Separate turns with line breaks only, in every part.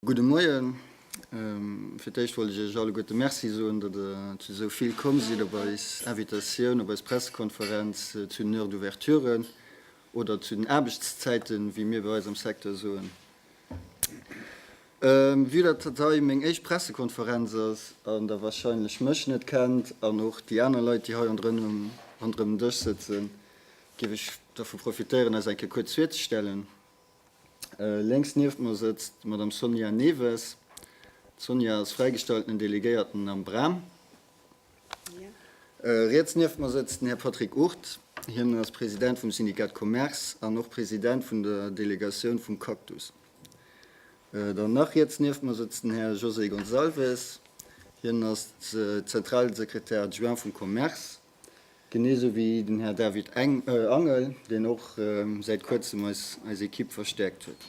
Gudde Moien. Fir d'éischt wollt ech Iech alleguerte Merci soen, datt Der zu esou vill komm sidd op eis Invitatioun op eis Pressekonferenz zu den Heures d'ouverture oder zu den Aarbechtszäiten, wéi mir bei eis am Secteur soen. Vue dat dat hei meng éischt Pressekonferenz ass an der wahrscheinlech mech net kennt an och déi aner Leit déi hei ronderëm den Dësch sëtzen, géif ech dervu profitéieren eis eng Kéier kuerz virzestellen. Lénks nieft mer sëtzt d'Madame Sonia Newes. D'Sonia ass fräigestaltenen Delegéierten am Bram. Riets nieft mer sëtzt den Här Patrick Ourth. Hien ass President vum Syndicat Commerce an och President vun der Delegatioun vum Cactus. Dann nach riets nieft mer sëtzt den Här José Gonçalves. Hien ass zentrale Secrétaire adjoint vum Commerce, genee sou wéi den Här David Angel, deen och säit kuerzem eis Ekipp verstäerkt huet.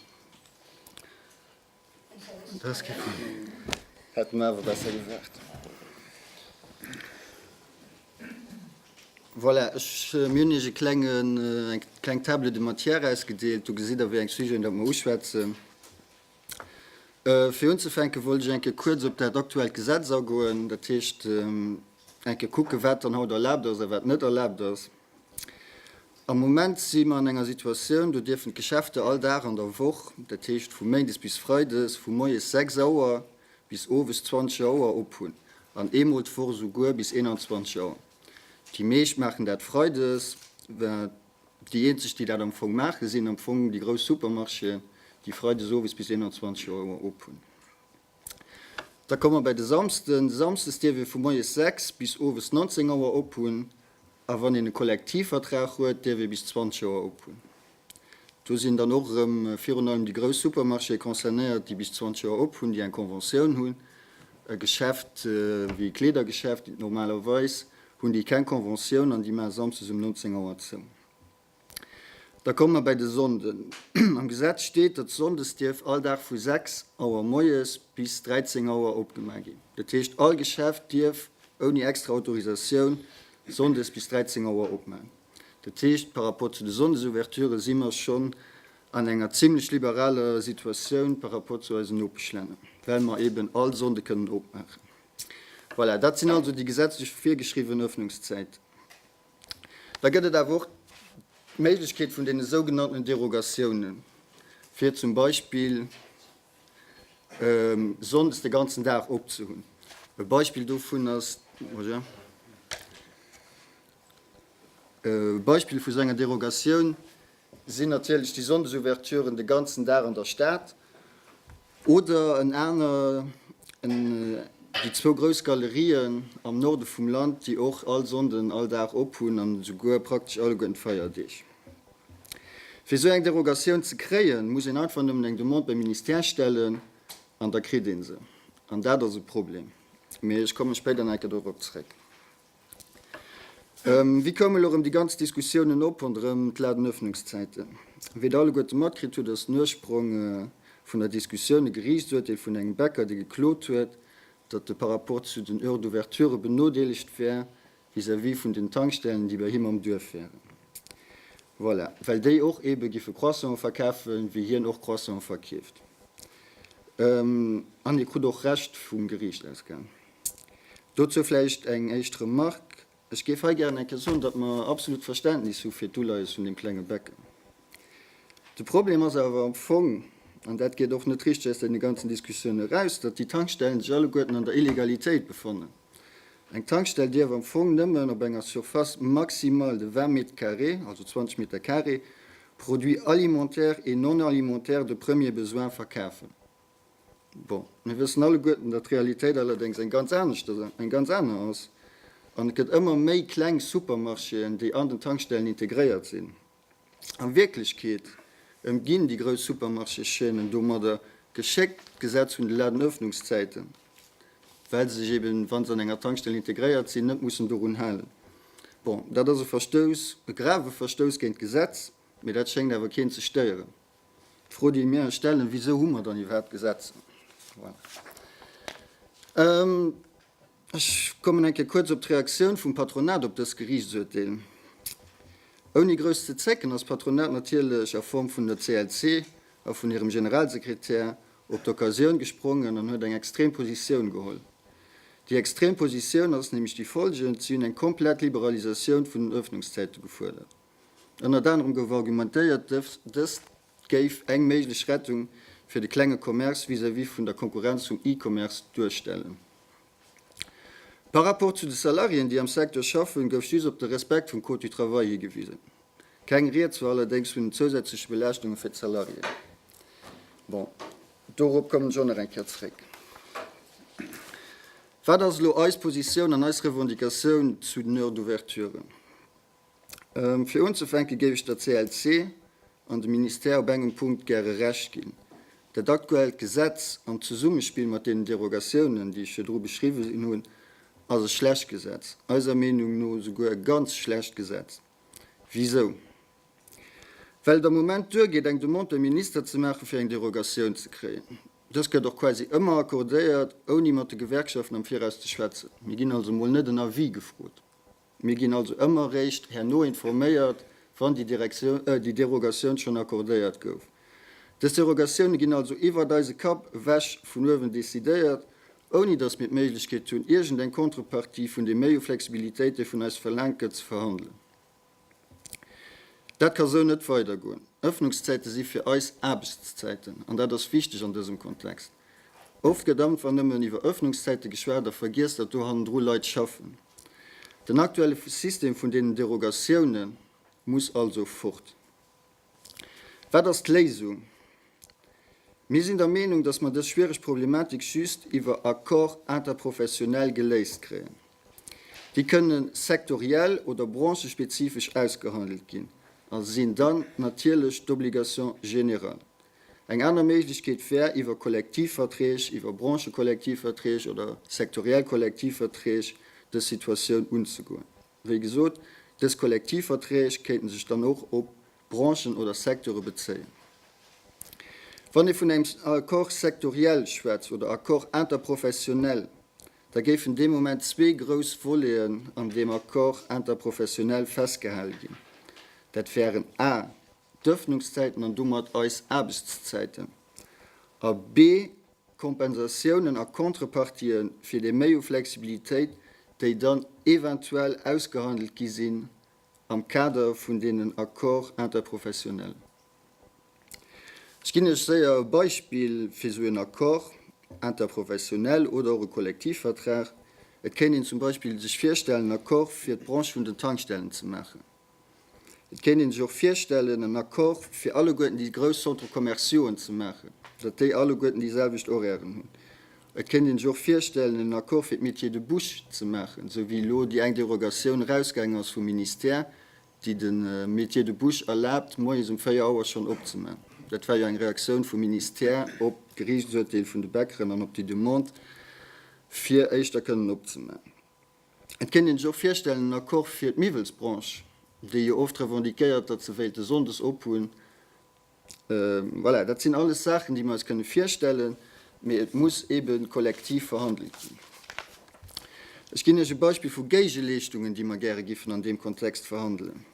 Voilà, ech, mir hunn Iech e klengen, eng kleng Table de matière ausgedeelt. Do gesitt Der, wéi eng Sujeten, datt mer uschwätzen. Fir unzefänke wollt ech eng Kéier kuerz op dat aktuellt Gesetz agoen, dat heescht, eng Kéier kucken, wat dann haut erlaabt ass a wat net erlaabt ass. Am Moment si mer an enger Situatioun, do dierfen d'Geschäfte all Dag an der Woch, dat heescht vu méindes bis freides, vu moies 6 Auer bis owes 20 Auer op hunn, an eemol d'Woch esouguer bis 21 Auer. Déi meescht maachen dat freides. Déi eenzeg, déi dat am Fong maachen, sinn am Fong déi grouss Supermarchéen, déi freides owes bis 21 Auer op hunn. Da komme mer bäi de Samsden. De Samsdes dierf ee vu moies 6 bis owes 19 Auer ophunn a wann een e Kollektivvertrag huet, dierf ee bis 20 Auer ophunn. Do sinn dann och erëm virun allem déi grouss Supermarchéë concernéiert, déi bis 20 Auer ophunn, déi eng Conventioun hunn. E Geschäft wéi e Kleedergeschäft normalerweis hunn déi keng Conventioun an déi maache samsdes um 19 Auer zou. Da komme mer bäi de Sonnden. Am Gesetz steet, datt Sonndes dierf all Dag vu 6 Auer moies bis 13 Auer opgema ginn. Dat heescht, all Geschäft dierf ouni extra Autorisatioun Sonndes bis 13 Auer opman. Dat heescht, par rapport zu de Sonndesouverture si mer schonn an enger zimlech liberaler Situatioun par rapport zu eisen Nopeschlänner, well mer eeben all Sonnde kënnen opmaachen. Voilà, dat sinn also déi gesetzlech virgeschriwwen Öffnungszäiten. Da gëtt et awer och d'Méiglechkeet vun deene sougenannten Derogatiounen, fir zum Beispill sonndes de ganzen Dag opzehunn. E Beispill dovun ass, e Beispill vu sou enger Derogatioun, Sinn natierlech déi Sonndesouverturen de ganzen Dag an der Stad oder en aner en déi zwou grouss Galerien am Norde vum Land, déi och all Sonnden all Dag op hunn an esouguer praktesch alleguer den Feierdeeg. Fir esou eng Derogatioun ze kréien, muss een einfach nëmmen eng Demande beim Ministère stellen an da kritt ee se. An dat ass e Problem, mee ech kommen spéider nach eng Kéier dorop zréck. Wie koum elo rëm déi ganz Diskussiounen op ronderëm d'Ladenöffnungszäiten? Wéi der alleguerte matkritt hutt, ass den Ursprong vun der Diskussioun e Geriichtsurteel vun engem Bäcker, dee geklot huet, datt e par rapport zu den Heures d'ouverture benodeelegt wär vis-à-vis vun den Tankstellen, déi bei him am Duerf wären. Voilà, well déi och eebe giffe Croissanten verkafe wéi hien och Croissanten verkeeft. An hie krut och Recht vum Geriicht, ausgaangen. Dozou vläicht eng éischt Remark, Ech géif hei gären eng Kéier soen, datt mer absolut Verständnis hu fir d'Uleies vun deem klenge Becken. De Problem ass awer am Fong, an dat geet och net richteg aus deene ganzen Diskussiounen eraus, datt déi Tankstellen sech alleguerten an der Illegalitéit befannen. Eng Tankstell dierf am Fong nëmmen op enger Surface maximale de 20 mètres carrés, also 20 Meter Kare, Produits alimentaires et non alimentaires de premier besoin verkafen. Bon, mir wëssen alleguerten, datt d'Realitéit allerdéngs eng ganz anescht, eng ganz aner ass. An et gëtt ëmmer méi kleng Supermarchéen, déi an den Tankstellen integréiert sinn. A Wierklechkeet ëmginn déi grouss Supermarché-Chaînen domadder geschéckt d'Gesetz vun de Ladenöffnungszäiten, well se sech eben, wa se an enger Tankstell integréiert sinn, net mussen dorun halen. Bon, dat ass e Verstouss, e grave Verstouss géint d'Gesetz, mee dat schéngt awer keen ze stéieren. D'Fro, déi mir eis stellen, Wisou hu mer dann iwwerhaapt Gesetzer? Ech kommen eng Kéier kuerz op d'Reaktioun vum Patronat op dës Geriichtsurteel. Ouni grouss ze zécken ass d'Patronat natierlech a Form vun der CLC a vun hirem Generalsekretär op d'Occasioun gesprongen an huet eng extrem Positioun geholl. Déi extrem Positioun ass nämlech déi folgend, Si hunn eng komplett Liberalisatioun vun den Öffnungszäite gefuerdert. Ënnert anerem gouf argumentéiert, dëst géif eng méiglech Rettung fir de klenge Commerce vis-à-vis vun der Konkurrenz vum E-Commerce duerstellen. Par rapport zu de Salariéen, déi am Secteur schaffen, gouf just op de Respekt vum Code du Travail higewisen. Keng Rieds war allerdéngs vun den zousätzleche Belaaschtunge fir d'Salariéen. Bon, dorop kommen ech och nach eng Kéier zréck. Wat ass elo eis Positioun an eis Revendicatioun zu den Heures d'ouverture? Fir unzefänke géif ech der CLC an dem Ministère op engem Punkt gäre Recht ginn. Dat aktuellt Gesetz, am Zesummespill mat deenen Derogatiounen, déi ech virdru beschriwwen hunn, ass e schlecht Gesetz, eiser Meenung no esouguer e ganz schlecht Gesetz. Wisou? Well et am Moment duergeet, eng Demande beim Minister ze maachen, fir eng Derogatioun ze kréien. Dës gëtt och quasi ëmmer accordéiert, ouni mat de Gewerkschaften am Viraus ze schwätzen. Mir ginn also mol net en Avis gefrot. Mir ginn also ëmmer réischt herno informéiert, wann déi Derogatioun schonn accordéiert gouf. Dës Derogatioune ginn also iwwert eise Kapp ewech vun uewen decidéiert, ouni datt mir d'Méiglechkeet hunn, iergend eng Contrepartie vun deem Méi u Flexibilitéit, dee vun eis verlaangt gëtt, ze verhandelen. Dat ka sou net weidergoen. Ëffnungszäite si fir eis Aarbechtszäiten, an dat ass wichteg an dësem Kontext. Oft gëtt einfach nëmmen iwwer Ëffnungszäite geschwat a vergiess, datt do hannendru Leit schaffen. Den aktuelle System vun deenen Derogatioune muss also fort. Wat ass d'Léisung? Mir sinn der Meenung, datt mer dës schwiereg Problematik just iwwer Accord interprofessionnel geléist kréien. Déi kënne sektoriell oder branchespezifesch ausgehandelt ginn a sinn dann natierlech d'Obligation générale. Eng aner Méiglechkeet wär, iwwer Kollektivverträg, iwwer Branchekollektivverträg oder sektoriell Kollektivverträg dës Situatioun unzegoen. Wéi gesot, dës Kollektivverträg kéinte sech dann och op Branchen oder Secteure bezéien. Wann ee vun engem Accord sectoriel schwätzt oder Accord interprofessionnel, da géifen dee Moment zwee grouss Voleten an deem Accord interprofessionnel festgehale ginn. Dat wären a. d'Öffnungszäiten an domat eis Aarbechtszäiten, a b Kompensatiounen a Contrepartië fir déi Méi u Flexibilitéit, déi dann eventuell ausgehandelt gi sinn am Kader vun deenen Accords interprofessionnels. Ech ginn Iech séier e Beispill fir esou en Accord interprofessionnel oder och e Kollektivvertrag. Et kéint een zum Beispill sech virstellen, en Accord fir d'Branche vun den Tankstellen ze maachen. Et kéint ee sech och virstellen, en Accord fir alleguerten déi grouss Centres commerciauxen ze maachen, datt déi alleguerten déi selwecht Horairen hunn. Et kéint ee sech och virstellen, en Accord fir d'Métiers de bouche ze maachen, esou wéi elo déi eng Derogatioun erausgaangen ass vum Ministère, déi de Métiers de bouche erlaabt, moies um véier Auer schonn opzeman. Dat war jo eng Reaktioun vum Ministère op d'Geriichtsurteel vun de Bäckeren an op déi Demande, fir éischter kënnen opzeman. Et kéint een sech och virstellen, en Accord fir d'Miwwelsbranche, déi jo oft revendiquéiert, datt se wéilte sonndes ophunn. Voilà, dat sinn alles Saachen, déi mir eis kënne virstellen, mee et muss eebe kollektiv verhandelt ginn. Ech ginn Iech e Beispill vu Géigeleeschtungen, déi mer gäre giffen an deem Kontext verhandelen.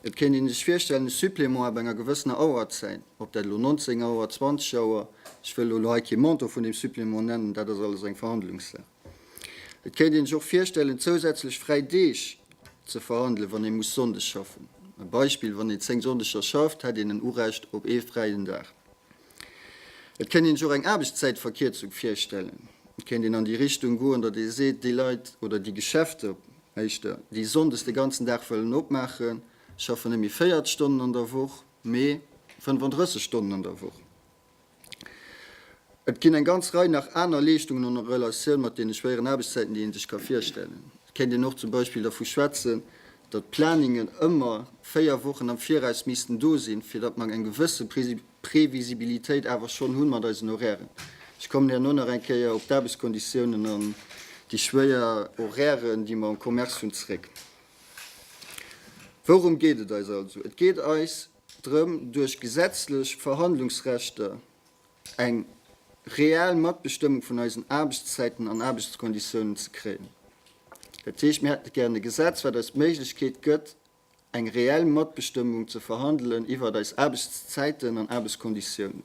Et kéint een sech virstellen, e Supplément ab enger gewëssener Auerzäit, ob dat elo 19 Auer, 20 Auer, ech wëll elo hei kee Montant vun deem Supplément nennen, dat ass alles eng Verhandlungssaach. Et kéint een sech och virstellen, zousätzlech fräi Deeg ze verhandelen, wann ee muss Sonndeg schaffen. E Beispill, Wann een 10 Sonndeger schafft, hätt een en Urecht op ee fräien Dag. Et kéint een sech och eng Aarbechtszäitverkierzung virstellen. Et kéint een an déi Richtung goen, datt ee seet, déi Leit oder déi Geschäfter éischter, déi sonndes de ganzen Dag wëllen opmaachen, schaffen net méi 40 Stonnen an der Woch, mee 35 Stonnen an der Woch. Et ginn eng ganz Rei nach aner Leeschtungen an Relatioun mat deene schwéieren Aarbechtszäiten, déi ee sech ka virstellen. Et kéint een och zum Beispill dervu schwätzen, datt d'Planungen ëmmer véier Wochen am Viraus missten do sinn, fir datt mer eng gewësse Previsibilitéit awer schonn hunn mat eisen Horairen. Ech kommen herno nach eng Kéier op d'Aarbechtskonditiounen an déi schwéier Horairen, déi mer am Commerce hunn, zréck. Wourum geet et eis also? Et geet eis drëm, duerch gesetzlech Verhandlungsrechter eng reell Matbestëmmung vun eisen Aarbechtszäiten an Aarbechtskonditiounen ze kréien. Dat heescht, mir hätte gären e Gesetz, wat eis d'Méiglechkeet gëtt, eng reell Matbestëmmung ze verhandelen iwwert eis Aarbechtszäiten an Aarbechtskonditiounen.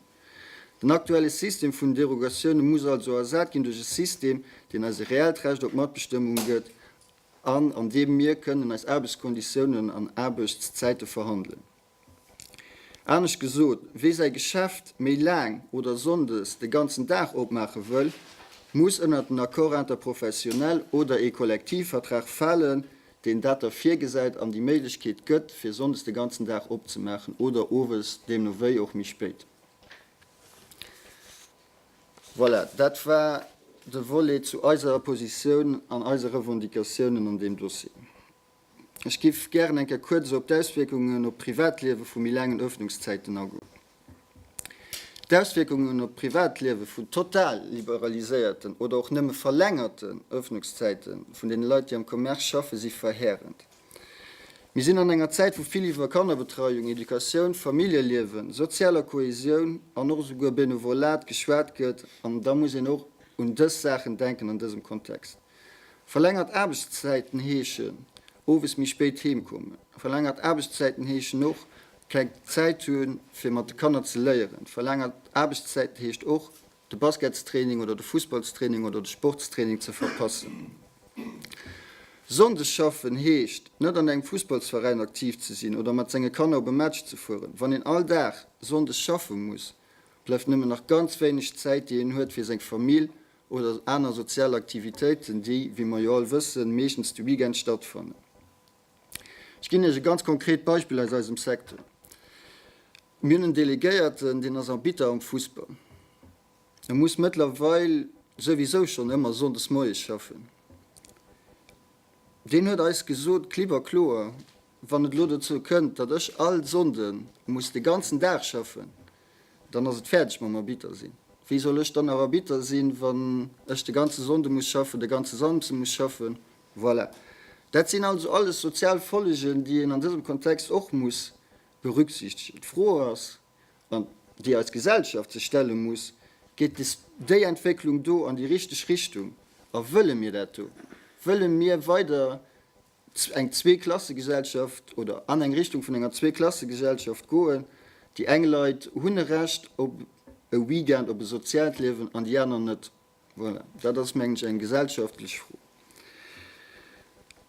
Den aktuelle System vun Derogatioune muss also ersat ginn duerch e System, deen eis e reellt Recht op Matbestëmmung gëtt an an deem mir kënnen eis Aarbechtskonditiounen an Aarbechtszäite verhandelen. Anescht gesot, Wie säi Geschäft méi laang oder sonndes de ganzen Dag opmaache wëll, muss ënnert den Accord interprofessionnel oder ee Kollektivvertrag falen, deen dat da virgesäit an déi Méiglechkeet gëtt, fir sonndes de ganzen Dag opzemaachen oder owes, deemno wéi och méi spéit. Voilà, dat war de Volet zu eiser Positioun an eise Revendicatiounen an deem Dossier. Ech géif gären eng Kéier kuerz op d'Auswierkungen op d'Privatliewe vu méi laangen Ëffnungszäiten agoen. D'Auswierkungen op d'Privatliewe vu total liberaliséierten oder och nëmme verlängerte Ëffnungszäite vun deene Leit, déi am Commerce schaffen, si verheerend. Mir sinn an enger Zäit, wou vill iwwer Kannerbetreiung, Educatioun, Familljeliewen, sozialer Kohäsioun an och esouguer Benevolat geschwat gëtt, an da muss een och un dës Saachen denken an dësem Kontext. Verlängert Aarbechtszäiten heeschen owes méi spéit heem kommen. Verlängert Aarbechtszäiten heeschen och keng Zäit hunn, fir mat de Kanner ze léieren. Verlängert Aarbechtszäiten heescht och de Basketstraining oder de Fussballstraining oder de Sportstraining ze verpassen. Sonndes schaffen heescht, net an engem Fussballsveräin aktiv ze sinn oder mat senge Kanner op e Match ze fueren. Wann een all Dag Sonndes schaffe muss, bleift nëmmen nach ganz wéineg Zäit, déi een huet fir seng Famill oder aner sozial Aktivitéiten, déi, wéi mer jo all wëssen, meeschtens de Weekend stattfannen. Ech ginn Iech e ganz konkret Beispill aus eisem Secteur. Mir hunn en Delegéierten, deen ass Arbitter am Fussball. E muss mëttlerweil souwisou schonn ëmmer sonndes moies schaffen. Deen huet eis gesot, klipp a kloer, Wann et elo dozou kënnt, datt ech all Sonnde muss de ganzen Dag schaffen, dann ass et fäerdeg mam Arbitter sinn. Wéi soll ech dann nach Arbitter sinn, wann ech de ganze Sonnde muss schaffen, de ganze Samsde muss schaffen? Voilà. Dat sinn also alles sozial Follegen, déi een an dësem Kontext och muss berücksichtegen. D'Fro ass, an déi eis Gesellschaft sech stelle muss, Geet des, déi Entwécklung do an déi richteg Richtung a wëlle mir dat do? Wëlle mir weider eng Zweeklassegesellschaft oder an eng Richtung vun enger Zweeklassegesellschaft goen? Déi eng Leit hunn e Recht op e Weekend, op e soziaalt Liewen an déi aner net. Voilà, dat ass, mengen ech, eng gesellschaftlech Fro.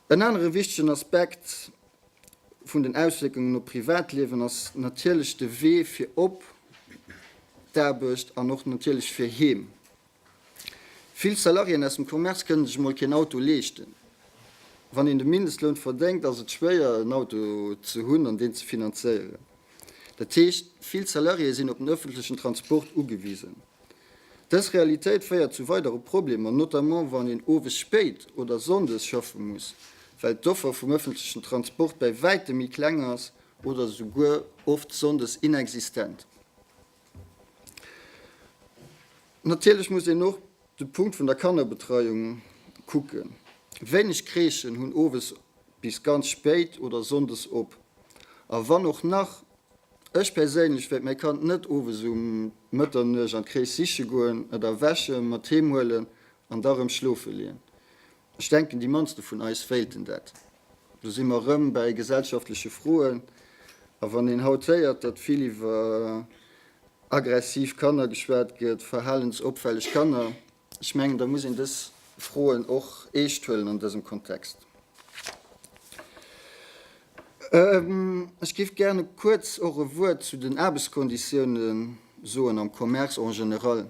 En anere wichtegen Aspekt vun den Auswierkungen op d'Privatliewen ass natierlech de Wee fir op d'Aarbecht an och natierlech fir heem. Vill Salariéen aus dem Commerce kënnen sech emol keen Auto leeschten. Wann een de Mindestloun verdéngt, ass et schwéier, en Auto ze hunn an deen ze finanzéieren. Dat heescht, vill Salariéë sinn op den ëffentlechen Transport ugewisen. Dës Realitéit féiert zu weidere Problemer, notamment wann een owes spéit oder sonndes schaffe muss, well d'Offer vum ëffentlechen Transport bäi wäitem méi kleng ass oder esouguer oft sonndes inexistent. Natierlech muss een och de Punkt vun der Kannerbetreiung kucken. Wéineg Crèchen hunn owes bis ganz spéit oder sonndes op, a wann och nach, Ech perséinlech wäert mäi Kand net owes um Mëtternuecht an d'Kréisch siche goen, et erwächen, mat heem huelen an da rëm schlofe leeën. Ech denken, déi mannste vun eis wéilten dat. Do si mer rëm bäi gesellschaftleche Froen. A wann een haut héiert, datt vill iwwer aggressiv Kanner geschwat gëtt, verhalensopfälleg Kanner, Ech mengen, da muss een dës Froen och eescht huelen an dësem Kontext. Ech géif gäre kuerz och e Wuert zu den Aarbechtskonditiounen soen am Commerce en général.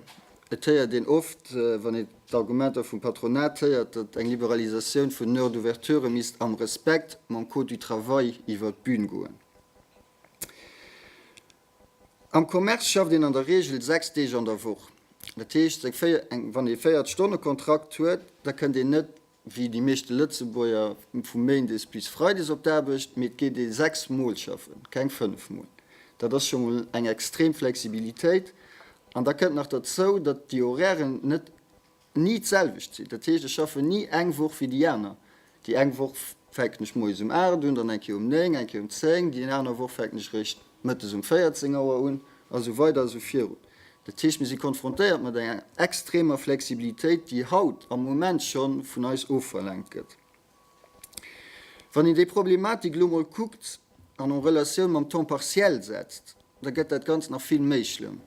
Et héiert een oft, wann een d'Argumenter vum Patronat héiert, datt eng Liberalisatioun vun den Heures d'ouverture misst am Respekt mam Code du travail iwwert d'Bühn goen. Am Commerce schafft een an der Reegel 6 Deeg an der Woch. Dat heescht, wann ee 40 Stonne Kontrakt huet, da kënnt een net, wéi déi meeschte Lëtzebuerger, vu méindes bis freides op d'Aarbecht, mee et geet ee 6 Mol schaffen, keng 5 Mol. Dat ass scho mol eng extrem Flexibilitéit. An da kënnt nach derzou, datt déi Horairen net. ni d'selwecht sinn. Dat heescht, ech schaffen ni eng Woch wéi déi aner. Déi eng Woch fänken ech moies um 8 un, dann eng Kéier um 9, eng Kéier um 10, déi aner Woch fänken ech eréischt mëttes um 14 Auer un a sou weider a sou virun. Dat heescht, mir si konfrontéiert mat enger extremer Flexibilitéit, déi haut am Moment scho vun eis ofverlaangt gëtt. Wann een déi Problematik elo mol kuckt an en Relatioun mam Temps partiel setzt, da gëtt dat Ganzt nach vill méi schlëmm.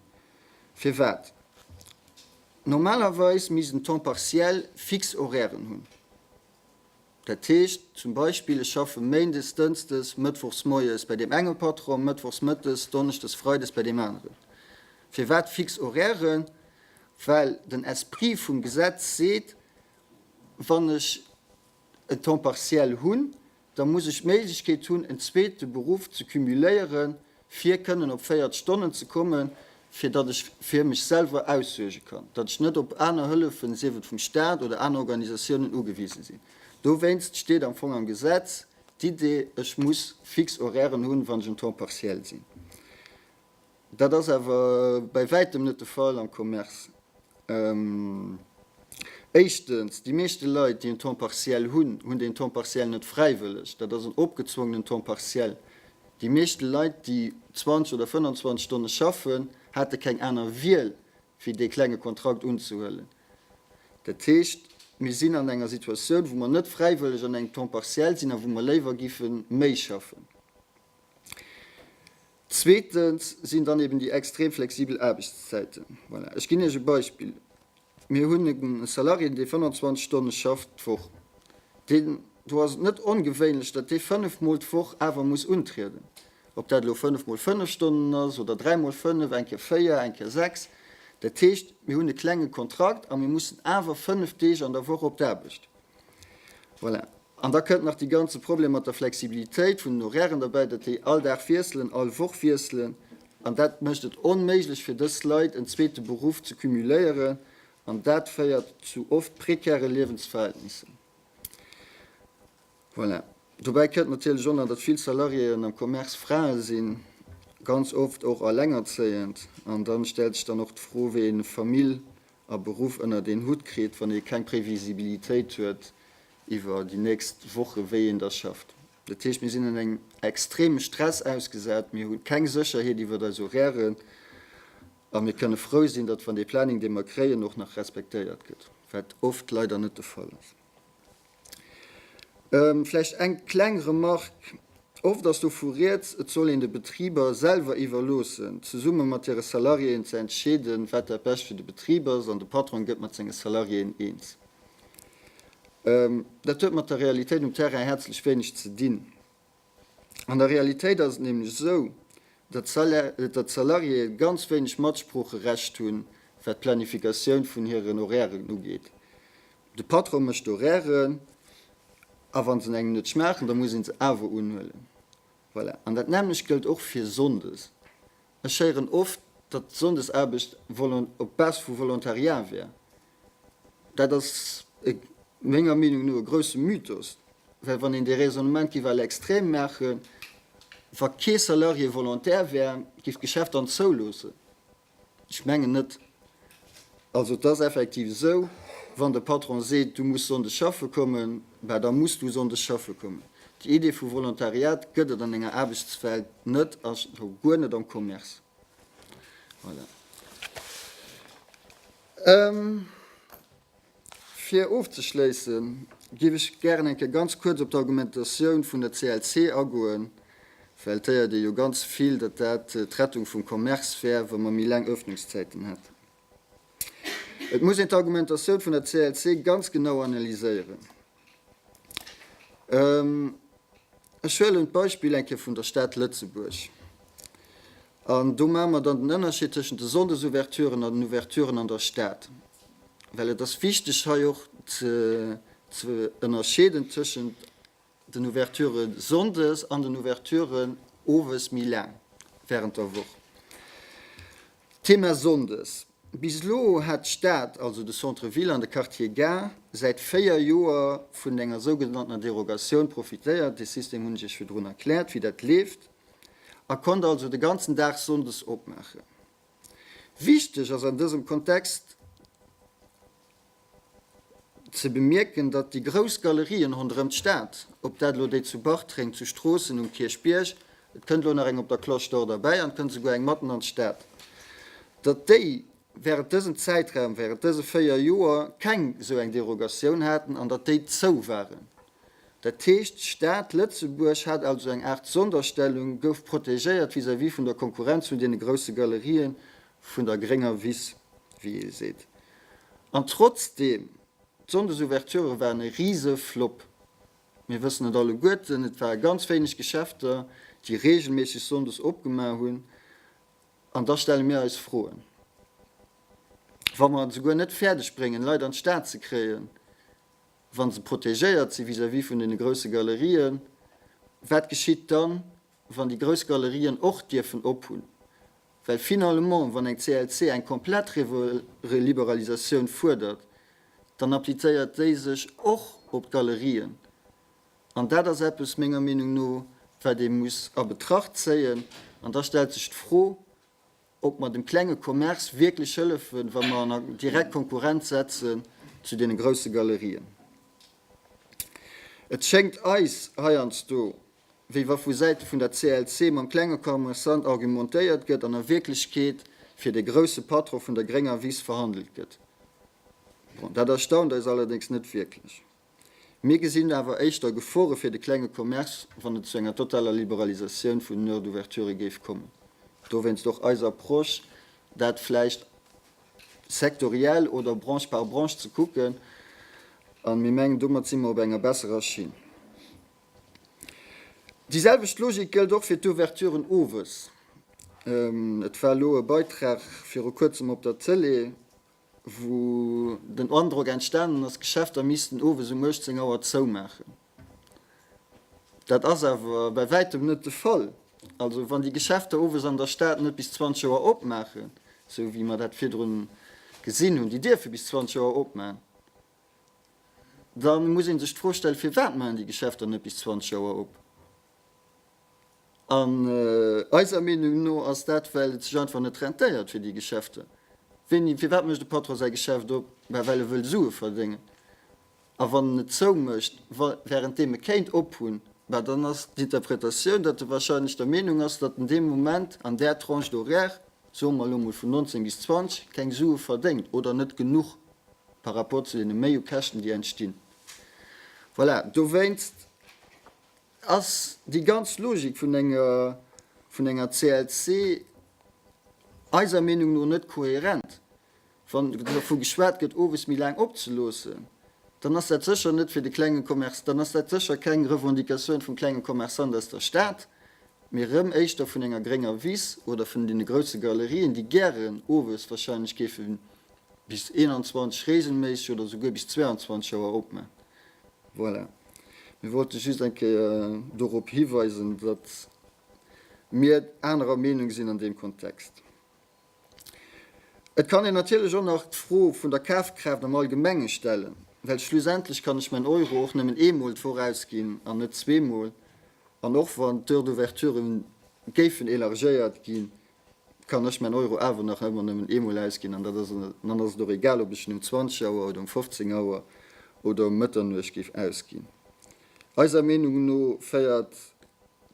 Firwat? Normalerweis misst en Temps partiel fix Horairen hunn. Dat heescht zum Beispill, ech schaffe méindes, dënsdes, mëttwochs moies bei deem enge Patron, mëttwochs mëttes, donneschdes, freides bei deem aneren. Firwat fix Horairen? Well den Esprit vum Gesetz seet, Wann ech e Temps partiel hunn, da muss ech d'Méiglechkeet hunn, en zweete Beruff ze cumuléieren, fir kënnen op 40 Stonnen ze kommen, fir datt ech fir mech selwer aussuerge kann, datt ech net op aner Hëllefen, sief et vum Staat oder aner Organisatiounen, ugewise sinn. Dowéinst steet am Fong am Gesetz d'Idee, ech muss fix Horairen hunn, wann ech en Temps partiel sinn. Dat ass awer bäi wäitem net de Fall am Commerce. Éischtens, déi meeschte Leit, déi en Temps partiel hunn, hunn deen Temps partiel net fräiwëlleg. Dat ass en opgezwongenen Temps partiel. Déi meeschte Leit, déi 20 oder 25 Stonne schaffen, hate keng aner Wiel, wéi dee klenge Kontrakt unzehuelen. Dat heescht, mir sinn an enger Situatioun, wou mer net fräiwëlleg an engem Temps partiel sinn a wou mer léiwer géife méi schaffen. Zweetens sinn dann eben déi extrem flexibel Aarbechtszäiten. Voilà, ech ginn Iech e Beispill, Mir hunn e Salarié, dee 25 Stonne schafft d'Woch. Deen, do ass et net ongewéinlech, datt dee fënnef Mol d'Woch awer muss untrieden. Ob dat elo fënnef Mol fënnef Stonnen ass oder dräi Mol fënnef, eng Kéier véier, eng Kéier sechs. Dat heescht, mir hunn e klenge Kontrakt a mir mussen awer fënnef Deeg an der Woch op d'Aarbecht. Voilà. An da kënnt nach dee ganze Problem mat der Flexibilitéit vun den Horairen derbäi, datt déi all Dag wiesselen, all Woch wiesselen. An dat mécht et onméiglech fir dës Leit, en zweete Beruff ze cumuléieren. An dat féiert zu oft prekäre Liewensverhältnissen. Voilà. Dobäi kënnt natierlech och nach, datt vill Salariéeën am Commerce Frae sinn, ganz oft och Ellengerzéiend. An da stellt sech dann och d'Fro, wéi een eng Famill a Beruff ënnert een Hutt kritt, wann ee keng Previsibilitéit huet iwwer déi nächst Woche wéi een da schafft. Dat heescht, mir sinn an engem extreme Stress ausgesat, mir hu keng Sécherheet iwwer eis Horairen a mir kënne frou sinn, datt wann dee Planning, dee mer kréien, och nach respektéiert gëtt, wat oft leider net de Fall ass. Vläicht eng kleng Remarque, Oft ass dovu Rieds, et soll een de Betriber selwer iwwerloossen, zesumme mat hire Salariéen ze entscheeden, wat dat Bescht fir de Betrib ass, an de Patron gëtt mat senge Salariéen eens. Dat huet mat der Realitéit um Terrain häerzlech wéineg ze dinn. An der Realitéit ass et nämlech esou, datt d'Salariéë ganz wéineg Matsproocherecht hunn, wat d'Planifikatioun vun hiren Horairen ugeet. De Patron mécht d'Horairen, a wa se engem net schmaachen, da muss ee se awer unhuelen. Voilà. An dat nämmlecht gëllt och fir sonndes. Ech héieren oft, datt d'Sonndesaarbecht op Basis vu Volontariat wär. Dat ass menger Meenung no e grousse Mythos, well wann een dee Raisonnement géif à l'extrême maachen, wa kee Salarié Volontaire wär, géif d'Geschäft dann zouloossen? Ech mengen net. Also et ass effektiv esou, wann de Patron seet, du muss Sonndes schaffe kommen, bah da muss du Sonndes schaffe kommen. Déi Idee vu Volontariat gëtt et an enger Aarbechtswelt net a scho guer net am Commerce. Voilà. Fir ofzeschléissen, géif ech gären eng Kéier ganz kuerz op d'Argumentatioun vun der CLC agoen, well et héiert ee jo ganz vill, datt dat d'Rettung vum Commerce wär, wa mer méi laang Öffnungszäiten hätten. Et muss een d'Argumentatioun vun der CLC ganz genau analyséieren. Ech huelen d'Beispill eng Kéier vun der Stad Lëtzebuerg. An do maache mer dann den Ënnerscheed tëschent de Sonndesouverturen an den Ouverturen an der Stad. Well et ass wichteg hei och ze ze ënnerscheeden tëschent den Ouverture sonndes an den Ouverturen owes méi laang während der Woch. Thema Sonndes, Bis elo hat d'Stad, also de Centre Ville an de Quartier Gare, säit 4 Joer vun enger sougenanntener Derogatioun profitéiert, dee System hunn ech Iech virdrun erkläert, wéi dat leeft, a konnt also de ganzen Dag Sonndes opmaachen. Wichteg ass an dësem Kontext, Ze bemierken, datt déi grouss Galerien ronderëm d'Stad, ob dat elo déi zu Bartreng, zu Stroossen, um Kierchbierg, et kënnt elo nach eng op der Cloche d'Or derbäi an et kënnt esouguer eng matten an d'Stad, datt déi während dësem Zäitraum, während dëse véier Joer keng esou eng Derogatioun haten an datt déi zou waren. Dat heescht, d'Stad Lëtzebuerg hat also eng Aart Sonderstellung, gouf protegéiert vis-à-vis vun der Konkurrenz vun deene grousse Galerien vun der grénger Wiss, wéi ee seet. An trotzdeem, d'Sonndesouverture waren e Riseflop. Mir wëssen et alleguerten, et ware ganz wéineg Geschäfter, déi reegelméisseg sonndes opgemaach hunn. An da stelle mir eis Froen, wa mer et esouguer net fäerdeg bréngen, Leit an d'Stad ze kréien, wa se protegéiert si vis-à-vis vun deene grousse Galerien, wat geschitt dann? wann déi grouss Galerien och dierfen op hunn, well finalement wann eng CLC eng komplett Reliberalisatioun fuerdert, dann applizéiert déi sech och op d'Galerien. An dat ass eppes, menger Meenung no, wat ee muss a Betracht zéien. An da stellt sech d'Fro, ob mer dem klenge Commerce wierklech hëllefen, wa mer en a direkt Konkurrenz setzen zu deene grousse Galerien. Et schéngt eis heiansdo, wéi wa vu Säite vun der CLC mam klenge Commerçant argumentéiert gëtt an a Wierklechkeet fir de grousse Patron vun der grénger Wiss verhandelt gëtt. Bon, dat erstaunt eis allerdéngs net wierklech. Mir gesinn awer éischter Gefore fir de klenge Commerce, wann et zu enger totaler Liberalisatioun vun den Heures d'ouverture géif kommen. Dowéinst och eis Approche, dat vläicht sektoriell oder Branche par Branche ze kucken. A mir mengen, domat si mer op enger besserer Schinn. Déi selwecht Logik gëllt och fir d'Ouverturen owes. Et war elo e Beitrag viru Kuerzem op der Tëlee, wou den Androck entstanen ass, d'Geschäfter missten owes um 18 Auer zoumaachen. Dat ass awer bäi wäitem net de Fall. Also wann déi Geschäfter owes an der Stad net bis 20 Auer opmaachen, esou wéi mer dat virdrun gesinn hunn, déi dierfe bis 20 Auer opman, Da muss ee sech d'Fro stellen, firwat maachen déi Geschäfter net bis 20 Auer op? An eiser Meenung no ass dat, well et sech einfach net rentéiert fir déi Geschäfter. Wéini, firwat mécht e Patron säi Geschäft op? Bah, well e wëll Sue verdéngen. A wann en et zou mécht, wa, wärend deem e kéint ophunn, bah dann ass d'Interpretatioun, datt e wahrscheinlech der Meenung ass, datt en dee Moment an där Tranche d'horaire, soe mer elo emol vun 19 bis 20, keng Sue verdéngt oder net genuch par rapport zu deene Méiukäschten, déi entstinn. Voilà, dowéinst ass déi ganz Logik vun enger, vun enger CLC eiser Meenung no net kohärent. Wann dervu geschwat gëtt, owes méi laang opzeloossen, dann ass dat sécher net fir de klenge Commerçant, dann ass dat sécher keng Revendicatioun vum klenge Commerçant aus der Stad, mee erëm éischter vun enger grénger Wiss oder vun deene grousse Galerien, déi gären owes wahrscheinlech géifen Bis 21 reegelméisseg oder souguer bis 22 Auer opman. Voilà. Mir wollte just eng Kéier dorop hiweisen, datt mir anerer Meenung sinn an deem Kontext. Et kann een natierlech och nach d'Fro vun der Kafkraaft am Allgemenge stellen, well schlussendlech kann ech mäin Euro och nëmmen eemol vorausginn an net zweemol. An och wann d'Heures d'ouverture géifen élargéiert ginn, kann ech mäin Euro awer nach ëmmer nëmmen eemol ausginn an dat ass en, an dann ass et och egal ob ech en um 20 Auer oder um 15 Auer oder um Mëtternuecht géif ausginn. Eiser Meenung no féiert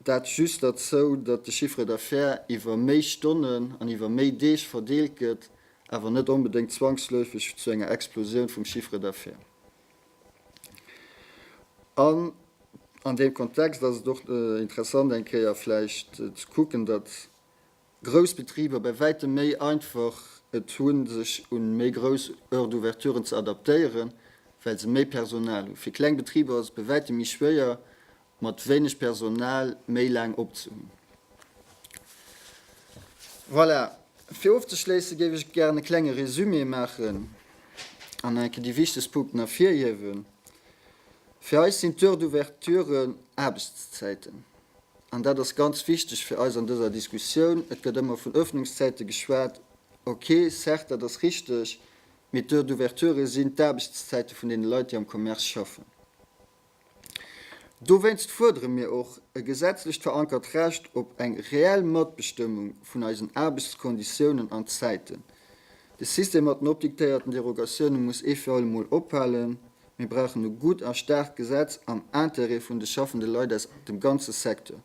dat just derzou, datt de Chiffre d'affaires iwwer méi Stonnen an iwwer méi Deeg verdeelt gëtt, awer net onbedéngt zwangsläufeg zu enger Explosioun vum Chiffre d'affaires. An an deem Kontext ass et och interessant eng Kéier vläicht ze kucken, datt grouss Betriber bei wäitem méi einfach et hu sech u méi grouss Heures d'ouverturen ze adaptéieren, well se méi Personal hu. Fir kleng Betriber ass et bei wäitem méi schwéier mat wéineg Personal méi laang opzehunn. Voilà, fir ofzeschléisse géif ech gären e klenge Resumé maachen an nach eng Kéier déi wichtegst Punkten ervirhiewen. Fir eis sinn d'Heures d'ouverture Aarbechtszäiten. An dat ass ganz wichteg fir eis an dëser Diskussioun. Et gëtt ëmmer vun Öffnungszäite geschwat. Ok, certes, dat ass richteg, mee d'Heures d'ouverture sinn d'Aarbechtszäite vun deene Leit, déi am Commerce schaffen. Dowéinst fuerdere mir och e gesetzlech verankert Recht op eng reell Matbestëmmung vun eisen Aarbechtskonditiounen an zäiten. De System mat den opdiktéierten Derogatioune muss ee fir all emol ophalen. Mir brauchen e gutt a staarkt Gesetz am Intérêt vun de schaffende Leit aus dem ganze Secteur.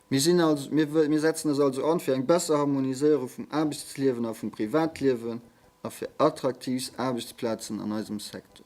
Mir sinn also, mir setzen eis also an fir eng besser Harmoniséierung vum Aarbechtsliewen a vum Privatliewen a fir attraktiivs Aarbechtsplazen an eisem Secteur.